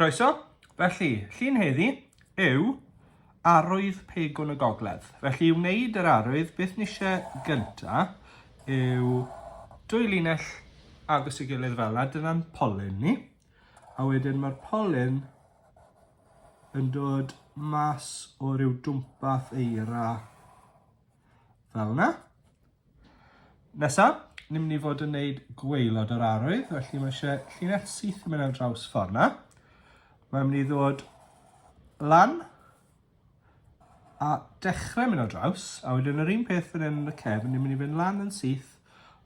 Croeso. Felly, llun heddi yw arwydd pegwn y gogledd. Felly i wneud yr arwydd, beth nishe gynta yw dwy linell agos i gilydd fel yna, dyna'n polyn ni. A wedyn mae'r polyn yn dod mas o ryw dwmpath eira Fel yna. Nesaf, ni'n mynd i fod yn gwneud gweilod o'r arwydd, felly mae eisiau llinell syth yn mynd ar draws ffordd yna. Mae'n mynd i ddod lan a dechrau mynd ar draws, a wedyn yr un peth fan hyn yn y cefn, ni'n mynd i fynd lan yn syth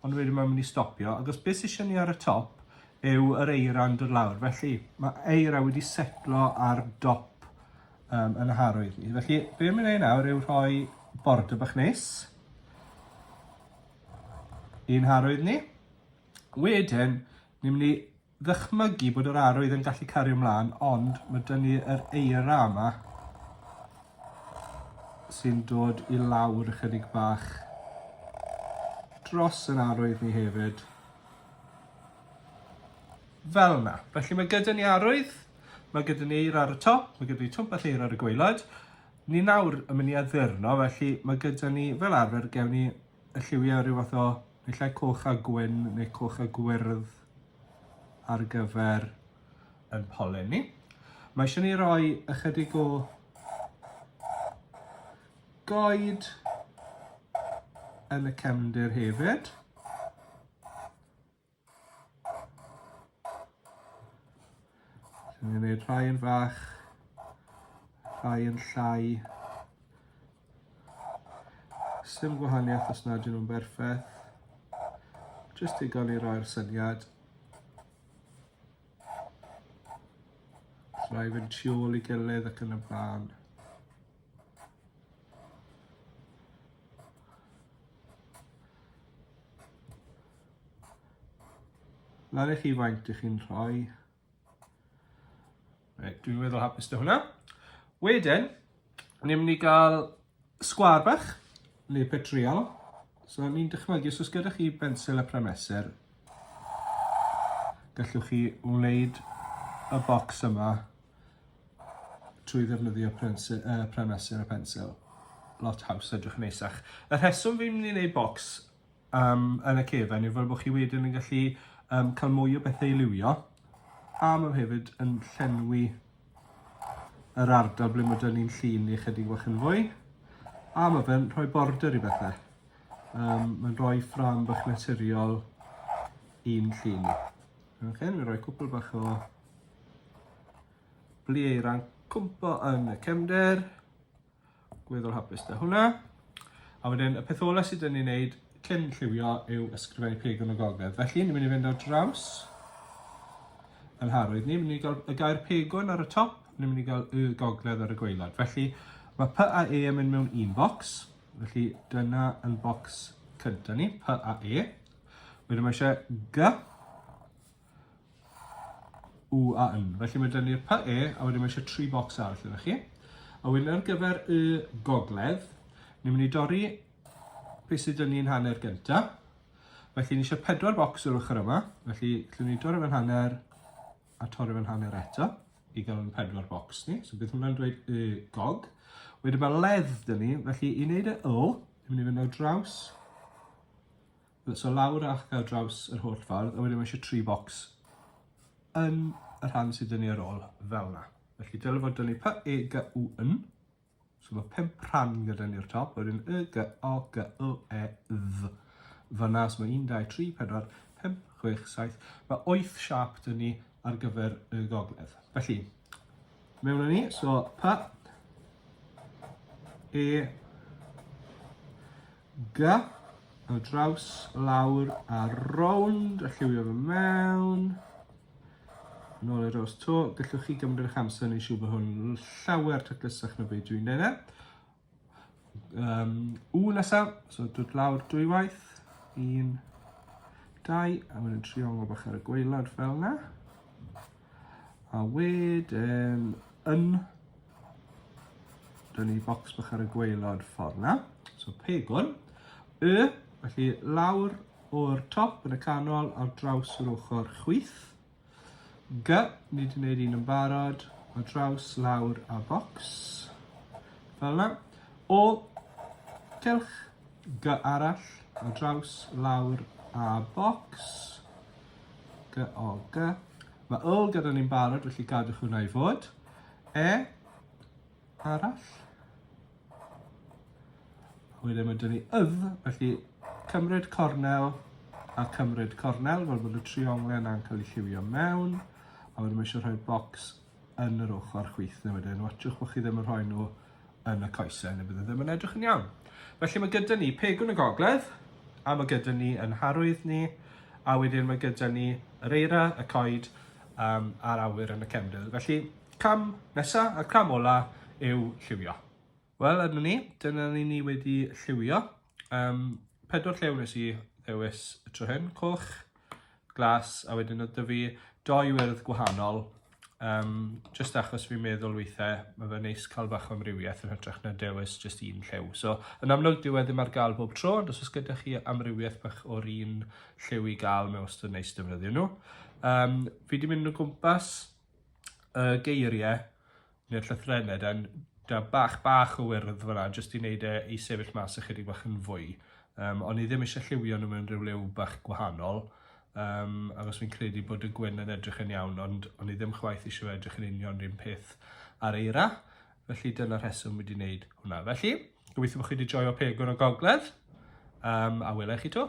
Ond wedyn mae'n mynd i stopio, agos beth sy'n ni ar y top yw yr eira yn dod lawr. Felly, mae eira wedi setlo ar dop um, yn y harwydd ni. Felly, be mi'n ei nawr yw rhoi bord y bach nes i'n harwydd ni. Wedyn, ni'n mynd i ddychmygu bod yr arwydd yn gallu cario mlaen ond mae dyn ni yr eira yma sy'n dod i lawr ychydig bach dros yr arwydd ni hefyd. Fel yna. Felly mae gyda ni arwydd, mae gyda ni eira ar y top, mae gyda ni twmpell eira ar y gweilod. Ni nawr yn mynd i addurno, felly mae gyda ni fel arfer gewn ni y lliwiau rhyw fath o naill ai coch a gwyn neu coch a gwyrdd ar gyfer yn polen ni. Mae eisiau ni roi ychydig o goed yn y cefndir hefyd. Dwi'n mynd i wneud rhai yn fach, rhai yn llai. Sym gwahaniaeth os nad ydyn nhw'n berffaith. Jyst i gael ei roi'r syniad. Rhai fynd tu ôl i gilydd ac yn y blaen. Lari chi faint ych chi'n rhoi. Right, dwi'n meddwl hapus da hwnna. Wedyn, ni'n mynd i gael sgwar bach, neu petriol. So ni'n dychmygu, os oes gyda chi bensil a prymesur, gallwch chi wneud y bocs yma trwy ddefnyddio prensur, uh, prymesur a pensil. Lot haws, edrych yn eisach. Y rheswm fi'n mynd i wneud bocs um, yn y cefn yw fel bod chi wedyn yn gallu um, cael mwy o bethau i liwio a mae hefyd yn llenwi yr ardal ble mae dyn ni'n llun ni chydig bach yn fwy a mae fe'n rhoi border i bethau. Um, mae'n rhoi ffram bach naturiol i'n llun ni. Ok, ni'n rhoi cwpl bach o blieir a'n cwmpo yn y cefnder. Gweddol hapus da hwnna. A wedyn, y peth ola sydd yn ei wneud cyn lliwio yw ysgrifennu pegwn o gogledd. Felly, ni'n mynd i fynd ar draws yn harwydd ni. Ni'n mynd i gael y gair pegwn ar y top, ni'n mynd i gael y gogledd ar y gweilad. Felly, mae P a E yn mynd mewn un bocs. Felly, dyna yn bocs cyntaf ni, P a E. Wedyn mae eisiau G U a N. Felly mae dyn ni'r py e, a wedyn mae eisiau tri bocs arall yna chi. A wedyn ar gyfer y gogledd, ni'n mynd i dorri beth sydd dyn ni'n hanner gynta. Felly ni eisiau pedwar bocs o'r ochr yma, felly llwn ni dorri fe'n hanner a torri fe'n hanner eto i gael yn pedwar bocs ni. So bydd hwnna'n dweud y gog. Wedyn mae ledd dyn ni, felly i wneud y yl, ni'n mynd i fynd o draws So lawr ac ar draws yr holl ffordd, a wedyn mae eisiau tri bocs yn y rhan sydd dynnu ar ôl fel yna. Felly dylai fod dynnu P, E, G, U, N. So mae pimp rhan gyda ni o'r top, wedyn Y, G, O, G, O, E, Dd. Fyna, so mae 1, 2, 3, 4, 5, 6, 7. Mae 8 siap dyn ni ar gyfer y gogledd. Felly, mewn ni, so P, E, Ga, ar draws, lawr a rownd a lliwio fe mewn. Yn ôl i'r os to, gallwch chi gymryd eich amser neu siw bod hwn llawer taclusach na beth dwi'n neud e. Um, u nesaf, so dod lawr dwy waith, un, dau, a wedyn triongl bach ar y gweilod fel yna. A wedyn yn Dyna ni bocs bach ar y gweilod ffordd na. So pegwn. Y, felly lawr o'r top yn y canol ar draws yr ochr chwyth. G, ni wedi gwneud un yn barod, o draws lawr a bocs. Fel yna. O, celch, G arall, o draws lawr a bocs. G, O, G. Mae O gyda ni'n barod, felly gadwch hwnna i fod. E, arall. Wedyn mae dyn ni ydd, felly cymryd cornel a cymryd cornel, fel bod y trionglen a'n cael ei lliwio mewn. A wedyn mae eisiau rhoi bocs yn yr ochr chwith neu wedyn, watchwch bod chi ddim yn rhoi nhw yn y coesau neu bydd e ddim yn edrych yn iawn. Felly mae gyda ni pegwn y gogledd, a mae gyda ni yn harwydd ni, a wedyn mae gyda ni yr eira, y coed um, a'r awyr yn y cefndir. Felly cam nesaf, y cam ola yw lliwio. Wel, yma ni, dyna ni ni wedi lliwio. Um, pedwar lliw nes i ddewis y tro hyn, coch, glas, a wedyn oedd dyfu doi wyrdd gwahanol. Um, just achos fi'n meddwl weithiau, mae fe neis cael bach o amrywiaeth yn hytrach na dewis just un lliw. So, yn amlwg dyw e ddim ar gael bob tro, ond os oes gyda chi amrywiaeth bach o'r un lliw i gael, mae wastad neis defnyddio nhw. Um, fi wedi mynd o gwmpas y geiriau neu'r llythrenned a da bach bach o wyrdd fyna jyst i wneud e i sefyll mas ychydig bach yn fwy. Um, ond ni ddim eisiau lliwio nhw mewn rhyw liw bach gwahanol, um, achos fi'n credu bod y gwyn yn edrych yn iawn, ond o'n ni ddim chwaith eisiau edrych yn union rhywun peth ar eira. Felly dyna rheswm wedi wneud hwnna. Felly, gobeithio bod chi wedi joio pegwn o gogledd, um, a welai chi to.